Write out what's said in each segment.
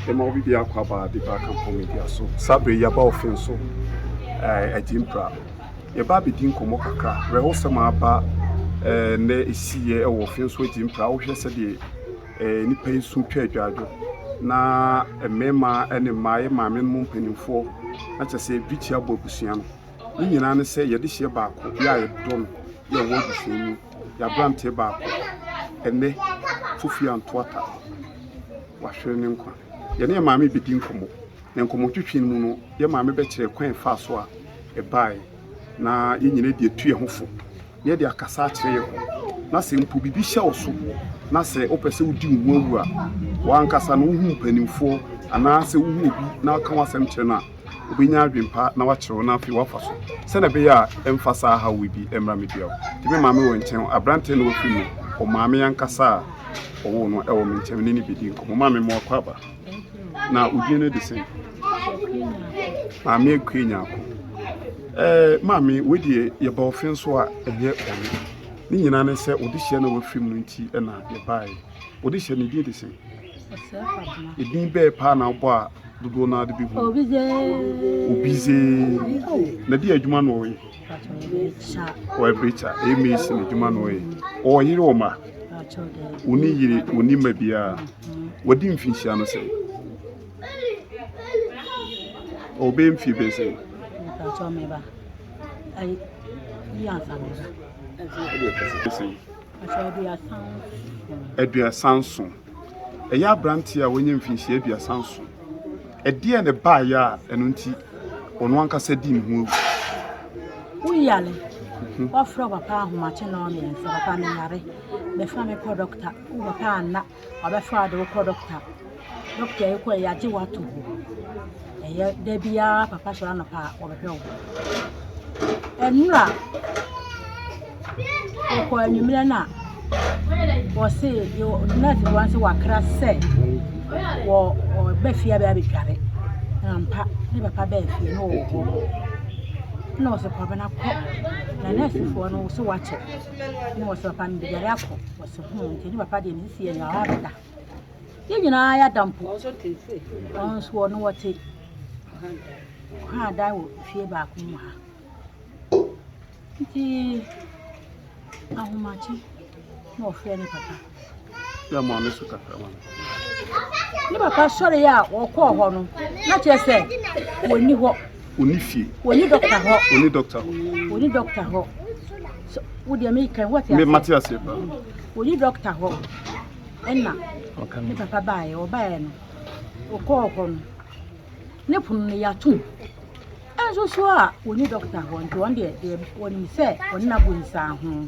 Ema obi biako aba a dipa aka mpɔn medua so. Saa bere yi aba ɔfe nso eh, agye mpra. Yɛba abedi nkɔmmɔ kakra. Werɛhosɛm a aba eh, nnɛ esiiɛ wɔ ɔfe nso agye mpra. Wohwɛ sɛdeɛ eh, nnipa yi su twa adwaadwo. Na mmarima ne mmaa, yɛ maame no mu mpanimfoɔ, na kyerɛ sɛ yɛdwikyia bɔ abusua no. Ne nyinaa ne sɛ yɛde hyeɛ baako, yɛ a yɛdɔ no, yɛ wɔ abusua mu. Y'aberanteɛ baako ɛnnɛ Kofi Antoata w'ahwere ne nkwa. Yɛne yɛn maame bɛdi nkɔmmɔ na nkɔmmɔtwetwe no mu no yɛn maame bɛkyerɛ kwan ɛfaa so a ɛbaeɛ na yɛn nyinaa de atu yɛn ho fo na yɛde akasa akyerɛ yɛn ho na sɛ mpo biribi hyɛ wo so na sɛ wopɛ sɛ wodi wo ho awu a w'ankasa no wohu mpanimfoɔ anaasɛ wohu obi na ɔka w'asɛm kyerɛ no a obenya adwene pa na wakyerɛw na afei wafa so sɛnea ɛbɛyɛ a ɛmfa saa haw yi bi mmra me biaw. Nti me maame wɔ nkyɛn, aberante na ofi mu, ɔmaame ankasa a ɔwoo no ɛwɔ me nkyɛn, me ne no bedi nkɔmmɔ. Maame mo akɔ aba. Na odin no de sɛn? Maame akue nyako. Ɛɛ maame wei deɛ yɛba ɔfe nso a ɛnyɛ ɔne. Ne nyinaa ne sɛ ɔde hyɛ na wafi mu no nti ɛna yɛbaeɛ. Ɔde hyɛ ne din de sɛn? Edin bɛɛ paa na wobɔ a dodoɔ naa de bi hu. Obizee. Na di adwuma na ɔyɛ. Ɔyɛ brecha. Ɛyɛ mesi na adwuma na ɔyɛ. Ɔwɔ yere wɔ ma. Oni yere oni ma biara. Wadi mfinhyia no sɛ. Ɔbɛyɛ mfie bɛyɛ sɛ. Ɔbɛyɛ mfie bɛyɛ sɛ. Aduasa nson. Ɛyɛ aberanteɛ a wanya mfinhyia aduasa nson. Ɛdeɛ na ɛbaeɛ a ɛno nti ɔno ankasa di ne ho awu? Woyare. Mhm. Wafrɛ papa ahomakye na ɔmmiɛnsa. Papa meyare. Bɛfa me kɔ dɔkta. Papa anna. Ɔbɛfrɛ wo ade wokɔ dɔkota, dɔkota yi kɔ a yɛagye wo ato hɔ. Ɛyɛ da biara papa sɔrɔ anɔpa a wɔbɛhwɛ wo. Nnura wokɔ anwummerɛ no a wɔse nurse bi wɔn se wakra sɛ wɔ ɔba fie abɛyɛ abɛdware. Ampa ne papa bɛɛ fie no wɔ hɔ. Na wɔse kɔ bɛna kɔ. Na nursefoɔ no wɔse wakyɛ. Na wɔse papa no de dware akɔ. So ho nti ne papa deɛ ne sisi yɛ nyaa ɔda yɛn nyinaa yɛ ada mpo ɔnso ɔno wɔte kwan adan wɔ fie baako mu ha nti ahomakye na ɔfrɛ ne papa yɛ mo ano so kakra ma ne papa sɔre a wɔkɔɔ hɔ no na kyerɛ sɛ wɔnni hɔ Ɔni fie. Ɔni dɔkta hɔ. Ɔni dɔkta hɔ. Ɔni dɔkta hɔ. So wo deɛ mi kan wate aseɛ. Mate aseɛ paa. Ɔni dɔkta hɔ. Ɛna ne papa baayɛ ɔbaayɛ no ɔkɔɔ hɔ no ne pono no yɛatom. Ɛnso so a ɔni dɔkta hɔ nti wɔn deɛ wɔnim sɛ wɔne no abɔ nsiaho.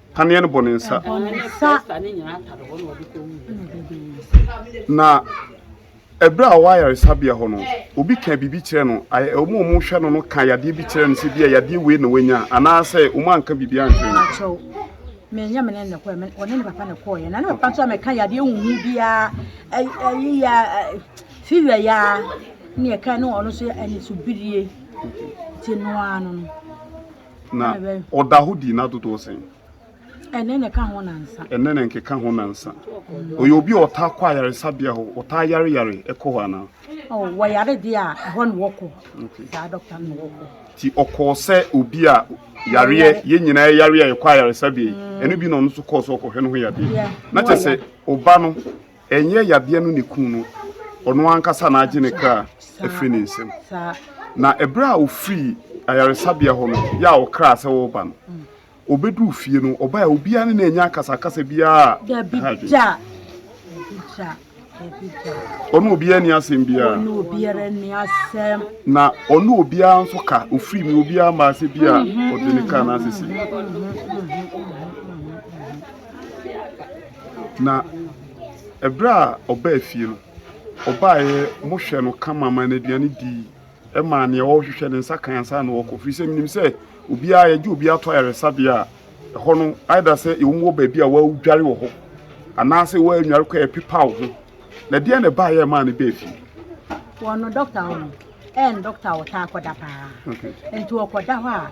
Paneɛ no bɔ ne nsa. Na ɛberɛ a ɔwɔ ayaresabea hɔ no, obi ka biribi kyerɛ no, wɔn a wɔhwɛ no no ka yadeɛ bi kyerɛ no sɛ bi a yadeɛ wei na wanya anaasɛ wɔn anka biribi ankyerɛ no. Menya me ne ne kɔɛ, ɔne ne papa ne kɔɛ, na ne papa nso a mɛka yadeɛ huhu biara, ayi ya, fiwia ya, ne ɛka ne ɔno nso ɛne so birie, ti noa no no. Na ɔda hɔ di nna dodoɔ sɛn? Ɛnnɛ na ɛka ho nansa. Ɛnnɛ na nkeka ho nansa. Ɔyɛ obi a ɔtaa kɔ ayaresabea hɔ, ɔtaa yare yare ɛkɔ hɔ anaa? Oh, wɔyare deɛ a ɛhɔ na wɔkɔ. Saa dɔkta no na wɔkɔ. Ti ɔkɔɔ sɛ obi a yareɛ yɛn nyinaa yareɛ a yɛkɔ ayaresabea yi, ɛno bi na ɔno nso kɔɔ so ɔkɔhwɛ no ho yadeɛ. Na kyerɛ sɛ ɔba no Ɛnyɛ yadeɛ no na ɛkum no, ɔno ankasa na agye ne kra afiri ne nsam. Na ɛberɛ a ɔfirii ayaresabea hɔ no, yɛ a ɔkraa sɛ ɔreba no, ɔbɛduu fie no, ɔbaeɛ a obiara ne no annya akasakasa biara a ɛha adwene. Ɔne obiara ni asɛm biara. Ɔne obiara ni asɛm. Na ɔne obiara nso ka ofiri mi obiara mma ase bi a ɔde ne ka n'asese. Na ɛberɛ a ɔbaa fie no, ɔbaeɛ, mohwɛ no kama maa no aduane dii, ɛmaa deɛ ɔrehwehwɛ no nsa kan ansa na ɔkɔ, firi sɛ menim sɛ obiara, yɛgye obiara to ayaresabea a, ɛhɔ no, either sɛ wɔwɔ baabi a wɔdware wɔ hɔ, anaasɛ wɔanware kɔ a ɛpepa wo ho. Na ɛdeɛn na ɛbaeɛ a ɛmaa no baa fie? Wɔn no, dɔkta wɔ hɔ, ɛyɛ no dɔkta a ɔtaa kɔda paa, nti ɔkɔda hɔ a,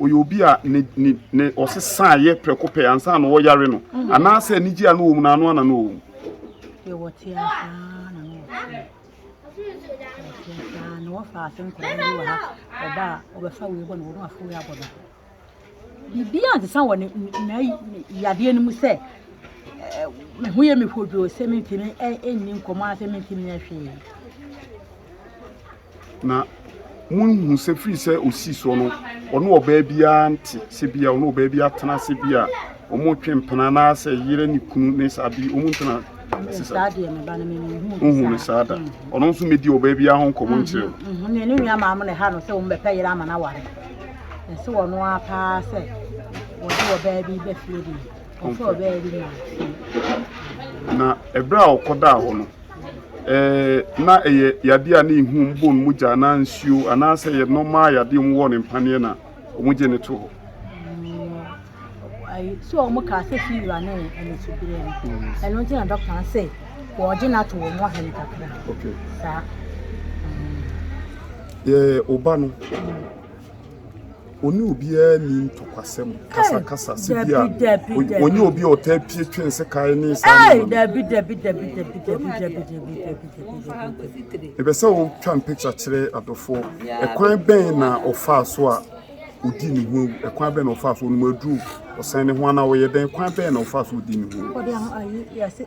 ɔyɛ obi a ne ne ne ɔsesaa yɛ prɛko pɛ ansa na ɔyare no mm. anaasɛ anigye a no wɔ mu na ano ana no wɔ mu. yɛwɔ te asaa na no wɔ fie te asaa na wɔfa ase nkɔla bi wɔ ha ɔba a ɔbɛfa wei bɔ na wɔn afɔ wei abɔ no biribi a nsesa wɔ ne na yadeɛ no mu sɛ eh, me ho yɛ me hodwo sɛ mentumi eh, ɛnni nkɔmmɔ a sɛ mentumi nyɛ hwee Na monhu sɛ firi sɛ ɔsii soɔ no ɔne ɔbaa biara nte sɛ bi a ɔne ɔbaa bi atena ase bi a wɔtwe mpena anaasɛ yere ne kunu ne saa bi wɔn ntena ase saa wohu no saa da ɔno nso mɛdi ɔbaa biara ho nkɔmmɔ nkyerɛ no ne nua maa mo na ɛha no sɛ wɔn bɛpɛ yere ama no aware ɛsɛ wɔn ara paa sɛ wɔde ɔbaa bi bɛfie deɛ ɔsɛ ɔbaa bi maa na ɛberɛ a ɔkɔdaa hɔ no Ɛɛ, na ɛyɛ yadeɛ a na ehu mbɔ no mogya anaa nsuo anaasɛ yɛ nɔmaa yadeɛ wɔn wɔ ne mpaneɛ na wɔn gye ne to hɔ. So wɔn kaa sɛ fiwura ne anisubrɛ no ɛno nti na dɔkta no sɛ wɔgye no ato wɔn ahene kakra saa. Yɛ ɔba no. Ɔne obiara nni ntɔkwasɛm, kasakasa, sɛ bi a ɔnyɛ obi a ɔtaa pie twe nsekae ne saa nneɛma no. Ɛbɛ sɛ wotwa mpikya kyerɛ adɔfoɔ. Ɛkwan bɛn na ɔfaa so a ɔdi ne ho awu? Ɛkwan bɛn na ɔfaa so ɔnom aduro? Ɔsan ne ho anaa ɔyɛ dɛn? Kwan bɛn na ɔfaa so ɔdi ne ho awu?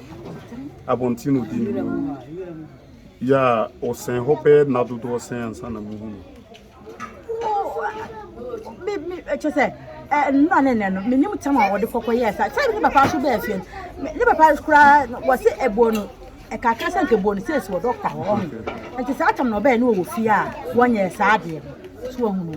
abɔnten na ɔdi ne mu yɛ a ɔsɛn hɔ bɛyɛ nna dodoɔ sɛn ansa na muhu no kyɛ sɛ nnura ne nnɛ no menim tam a wɔde kɔkɔ yɛɛ saa kyɛ ne papa so bɛɛ fie ne papa koraa wɔse ɛboɔ no ɛkakra sɛ nka ɛboɔ no sɛ ɛsi wɔ dɔkta hɔ ɔho nti saa tam na ɔbɛɛ ne wɔwɔ fie a wɔnyɛ saa adeɛ no so ahunu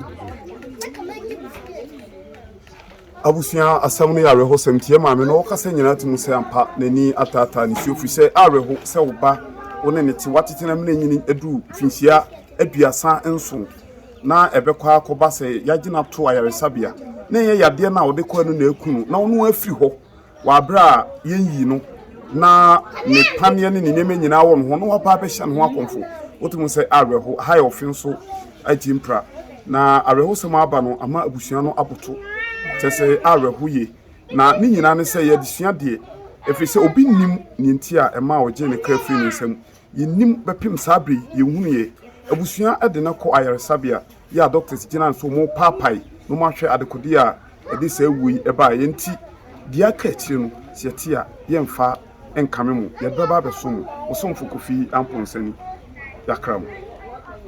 Abusua asɛm no yɛ awerɛhosɛm nti, yɛn maame no, ɔkasa nyinaa te mu sɛ ampa n'ani ataataa ne su afiri sɛ awerɛho sɛ wo ba wo ne no te, woatete no amena anyini aduru mfinhyia aduasa nson na ɛbɛkɔ ara akɔba sɛ yɛagye no ato ayaresabea na ɛnyɛ yadeɛ no a ɔde kɔɛ no na aku no na ɔno afiri hɔ. Wɔ aberɛ a Yɛyii no na ne paneɛ ne ne nneɛma nyinaa wɔ ne ho na waba abɛhyɛ ne ho akɔmfo. Wote mu sɛ awerɛho. Ɛha yɛ ɔfe nso agye mpira. Na awerɛhosɛm a aba no ama abusua no aboto. Kyerɛ sɛ awerɛho ye. Na ne nyinaa ne sɛ ɛyɛ adesua deɛ, ɛfiri sɛ obi nnim deɛ nti a ɛmaa ɔgyee ne kra firii ne nsam. Yɛnnim bɛpem saa berɛ yi, yɛnhunuiɛ. Abusua de no kɔ ayaresabea. yi a doctors gyina nso wɔn paapae na wɔn ahwɛ adekode a ɛde saa wuo yi ɛbaeɛ yɛ nti deɛ aka akyire no sɛ yɛte a yɛmfa nkame mo yɛde bɛba abɛso mo osomfo kofi amponsani yakra mo.